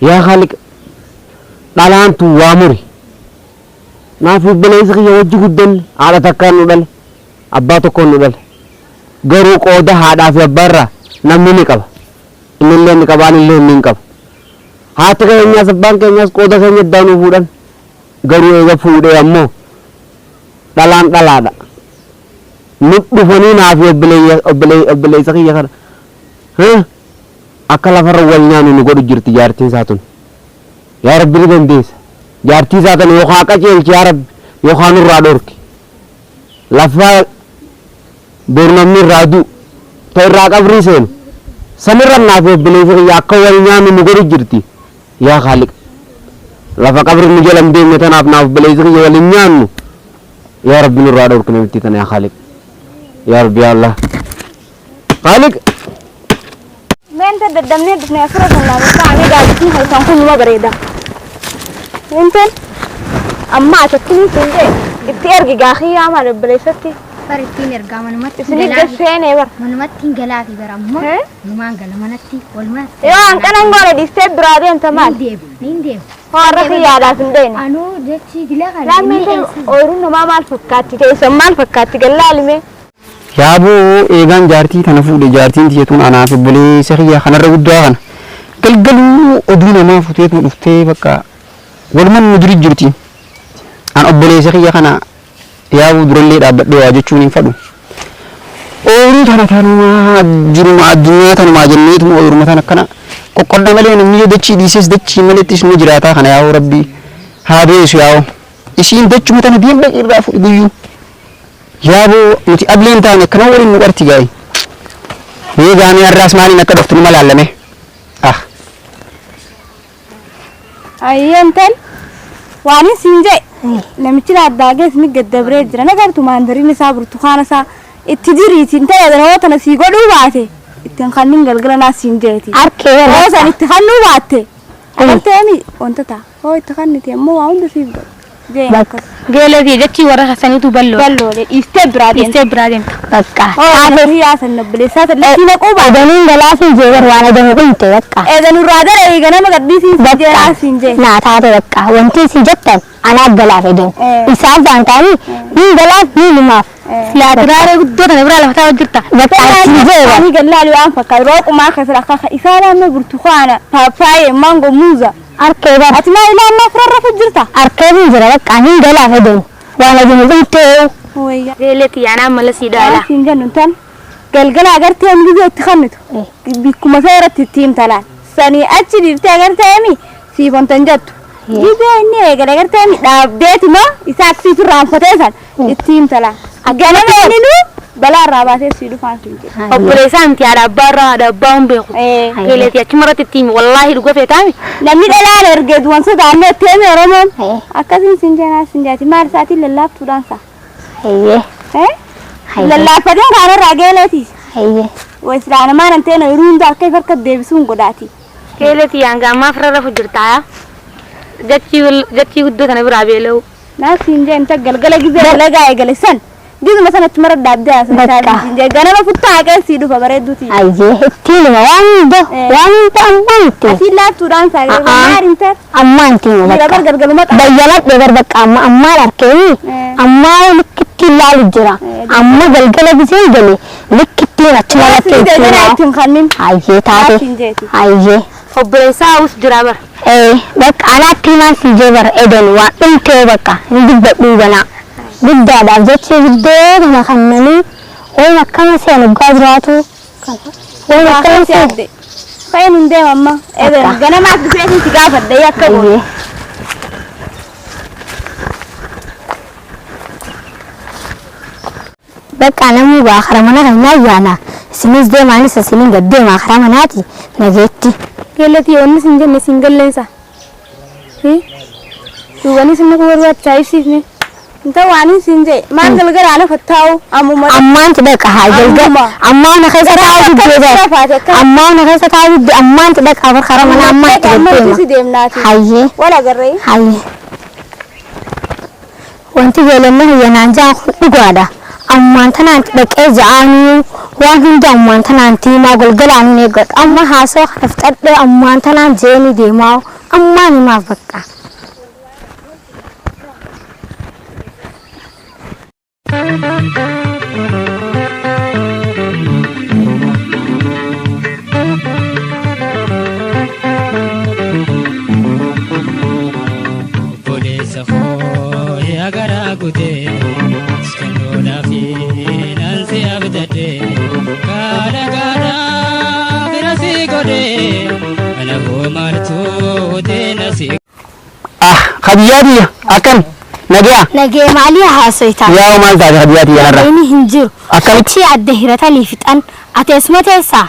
Yaa Khaaliq dhalaan tun waa muri Naaf obboleeysa kiyya wajji guddanne haadha takkaan nu dhale abbaa tokkoon nu dhale garuu qooda haadhaa fi abbaa irraa namni ni qaba innillee ni qaba anillee niin qaba haati keenyaas abbaan keenyaas qooda keenya addaa nuu fuudhan garuu eega fuudhee ammoo dhalaan dhalaadha nu dhufanii naaf obboleeysa kiyya kana Akka lafarra wal nyaannu nu godhu jirti jaartiin isaa tun. Yaa Rabbi ni dandeessa. Jaartii isaa tana yookaa qaceelchi yaa Rabbi yookaa nurraa dhorki. Lafa bor namni irraa du'u, ta irraa qabrii seenu, sanirra anaa fi obboleessi kiyya akka wal nyaannu nu godhu jirti. Yaa Khaaliq! Lafa qabri nu jala hin deemne tanaaf naa fi obboleessi kiyya wal hin nyaannu. Yaa Rabbi nurraa dhorki namittii tana yaa Khaaliq. Yaa Rabbi yaa Allaah! Khaaliq. Meenta daddabnee dhufne asirra kan laafee ta'anii gaadisni halkan kun numa bareeda. Meenteen amma atattiin siin ta'e itti ergi gaakii yaamaa dabaleessatti. Bar ittiin ergaa manumatti Isin galaa. idda seenee bar. Manumatti hin galaa fi bara ammoo Eh? numaan gala manatti walumaa. Yoo hanqanan goone dhiistee biraa deemta maal? Niin deemu, niin deemu. Hoorra kiyyaadhaaf hin deemne. Anuu jechi gila kana Lammii inni ta'e eessa? ooyiruun namaa maal fakkaatti teessan maal fakkaatti gallaalime. Yaaboo eegaan jaartii tana fuudhe jaartiin tiyya tun anaaf obboleessa kiyya kan har'a guddaa kana galgaluu oduu namaa futeetuma dhuftee bakka waluman nu duri jirti an obboleessa kiyya kana yaabuu durallee dhaabbadhee waa jechuun hin fadhu ooyiruu tana tanumaa jiruma addunyaa tanumaa jenneetuma ooyiruma tana akkana qoqqodda malee namni yoo dachii dhiisees dachii maleettis nu jiraataa kana yaa'oo rabbii haa beesu yaa'oo isiin dachuma tana diinba irraa fuudhi guyyuu Yaaboo nuti ableen taane akkana waliin nu qarti gaa'e mee gaamee har'aas maaliin akka dhuftu numa laallame ah Ayyeen tan waanin siin jee namichi laaddaagee ni gaddabree jira nagartu maandariin isaa burtukaana isaa itti diriitiin ta'e yeroo tana sii godhuu baate ittiin kanniin galgala naa siin jeeti. Harkee Yeroo san itti kannuu baatte agarteemi wanta ta'a. Hoo itti kannite immoo waa hunda siif godha. Ga'een Bak- akkas. Geelee kee jechii warra keessaniitu balloo. Balloole dhiistee biraa deemte. Dhiistee biraa deemta. Bakka. Hoo Taatee. hiyyaa san nabbileessaa san lakkiin haquu baate. Odaniin galaafii jee bar waan odanii dhumte bakka. Eega nurraa gara eega nama gadhiisiin siin jee haa siin jee. Naa taate bakka. Wanti isin jettan anaaf galaaf edan. Eh. Isaan faan ta'anii niin galaaf niin lumaaf. Silaa duraaree guddoo tana biraa lafa taa'aa jirta. Bakka isin jee bar. Ani gallaalii waan fakkaatu rooqumaa keessatti akka isaan amma burtukaana paappaayee maangoo muuza. Arkee bar ati maa ilaa ammaa fira rafu jirta. Arkee hin jira baqqaa hin galaa hedeen waan ajin hin dhumtee. Wayyaa. Eelee tiyya anaa mala sii dhaa ilaa. Waan siin jennu intal galgala agartee inni biyya itti kannitu bikkuma isaa irratti itti himta laal sanii achi dhiiftee agartee emi siif ontan jettu biyya inni eegale agartee emi dhaabdeeti moo isaa akkasiitu irraa hanfatee san Itti himtala. Ganama waninuu balaa irraa baatee sii dhufaan siin jedhe. Obboleessaa miti haadha abbaa irraa haadha abbaa hin beeku. Beeleeti achuma irratti itti himi wallaahi dhuga feetaami. Namni dhalaan ergee du'an sodaannee itti himi Oromoon. Akkasiin siin jeenaa siin jaati maal isaatiin lallaaftuudhaan isaa. Hayyee. Lallaaffateen kaan irraa geeleetiis. Hayyee. Islaanamaan hin ta'e yeroo hunda akka ifa harkatti deebisuun godhaati. Beeleeti hanga ammaa firra rafu jirtaa. Jachii guddoo tana biraa beela'u. Naa siin jeen ta galgala gizee dalagaa eegale san gizuma san achuma irra dhaabdee haasoftaa Bakka. siin jeen ganama futtaa haqeen sii dhufa bareedduu tiyya. Ayyee ittiin hima waan hunda Eh. waan hunda ammaan itti hima. Asiin laaftuudhaan saa A'aa. eegale maal hin taate. Ammaan itti hima Jira bakka. bar galgaluma qaba. Bayyanadhe bar bakka amma ammaan arkeeni Eh. ammaa likki ittiin laalu jira. Eh, Amma galgala gisee gale likki ittiin achuma Naa irratti siin jeen ittiin ganaa hima. ittiin kannin. Ayyee taate. Naa siin jeeti. Ayyee. Obboleessaa Awus jiraa bar. Ee baqqa anaatti himaan sii jee bar Eden waan dhumtee baqqa hin dubbadhuu ganaa. Guddaadhaaf jecha ibiddee kana kannanii wayim akkama se'an oggaa jiraatu wayim Waa akkama kan si se'an adde. Ka'een hin deema amma. Eden Akka. ganamaas dhufee isin si gaafadhee akka ayyee goone. Baqqaa namuu ba'a kara mana kenyaa yaana isiniis deema anis isiniin gad deema karaa manaati na geetti. Geellatii wanni sin jenne sin galleensa hi duubanii sin naquu barbaachisaa ibsiif mee. Hin ta'u waanin siin je'e maal galgala ana fattaa'u ammuma dhaqi. Ammaanti dhaqa haa galgal Ammuma. ammaa na keessa Yeroo taa'u akka diddee bitti dhaqa lafaati akka ammaa na keessa taa'u diddee ammaanti dhaqa bar karaa mana ammaa itti Dhaqi amma gaddeema. nuti deemnaati. Hayyee Wal agarree. hayyee. Wanti Heelenna kiyya naan ja'an kun dhugaadha. Ammumaan tanaanti dhaqee ja'aanuu waan hunda ammumaan tanaanti himaa golgalaanuu hin eeggadhu. Amma haasawa kana fixadhee ammumaan tanaan je'eenii deemaa'uu ammumaan himaaf bakka. Koo yaa garaa kutee skandoodhaa fi nansi abdadhee kaadha kaadha bira si godhee ana koo maaltuu deena si. Ah, Khadijaa tiyya akkam nagaa Nagee maalii haasoftaa? yaa maal taate Khadijaa tiyya har'a Inni hin jiru. Akkam- Achii adda hiratanii fixan. Ati eessuma teessaa?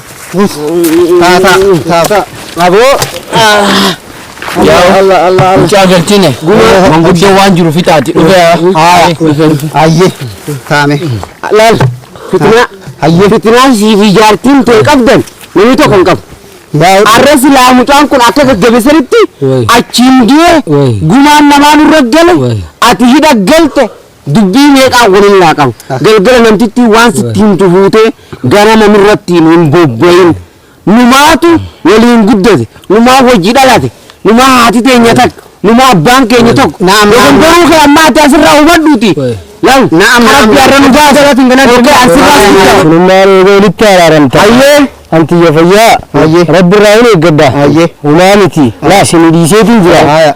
Taataa. Taataa. Aboo. Mucaa galchine manguddoo waan jiru fixaati dhufe Ayyee. Taame. Laal. Fitinaa. Ayyee. Fitinaa sii fi jaartiin tee qabdan namni tokko hin qabu. Arra silaa mucaan kun akka gaggabisanitti achiin du'e gumaan namaa nurra gale ati hidha galte Dubbii meeqaan wal hin laaqamu. Galgala namtittiin waan sitti himtu fuutee ganama nurratti hin bobbayin. Numaatu waliin guddate, numaa wajji dhalate, numaa haati teenya takka, numaa abbaan keenya tokko. Naam, naam, Dogongoruu naam. kee amma ati asirraa hubadhuuti. Wayi. Laal, Naam, naam, Rabbi naam. har'a nu baase. Okkee, asirraa hin gahu. Kunummaa roobee walitti araaramta. Hayyee. Anti ija fayyaa. Hayyee. Rabbi irraa hin eeggadda. Hayyee. Humaa miti. Laa isin dhiiseetiin jira. Haaya.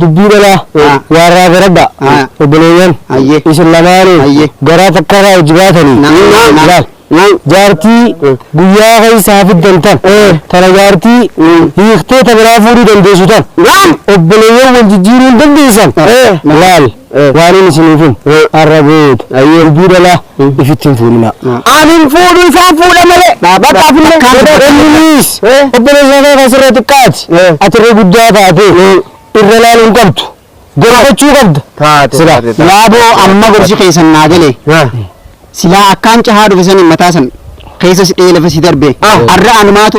Dubbii dhalaa Haa. waarraa garadhaa Haa. obboleeyyan Hayyee. isin lamaanuu Hayyee. garaa takkarraa hojji baatanii Naam, naam, naam. laal. Naam. jaartii Mm. guyyaa keessa hafiddan tan tana jaartii Mm. hiiktee ta biraa fuudhuu dandeessu tan Naam. obboleeyyan wal jijjiiruu hin dandeessan Eh. laal Waanin isiniifin har'a guutu dubbii dhalaa ifitti hin fuudhinaa. An hin fuudhu isaan fuudha malee. Dhaabadhaa fi innis obboleessa kee kan sirra xiqqaati ati irra guddaa taatee irra ilaaluu hin qabdu. Gorfachuu qabda sila. Yaaboo amma gorsi keessan naa gale silaa akkaan cahaa dhufe saniin mataa san keessas dhee lafa si darbe har'a anumaatu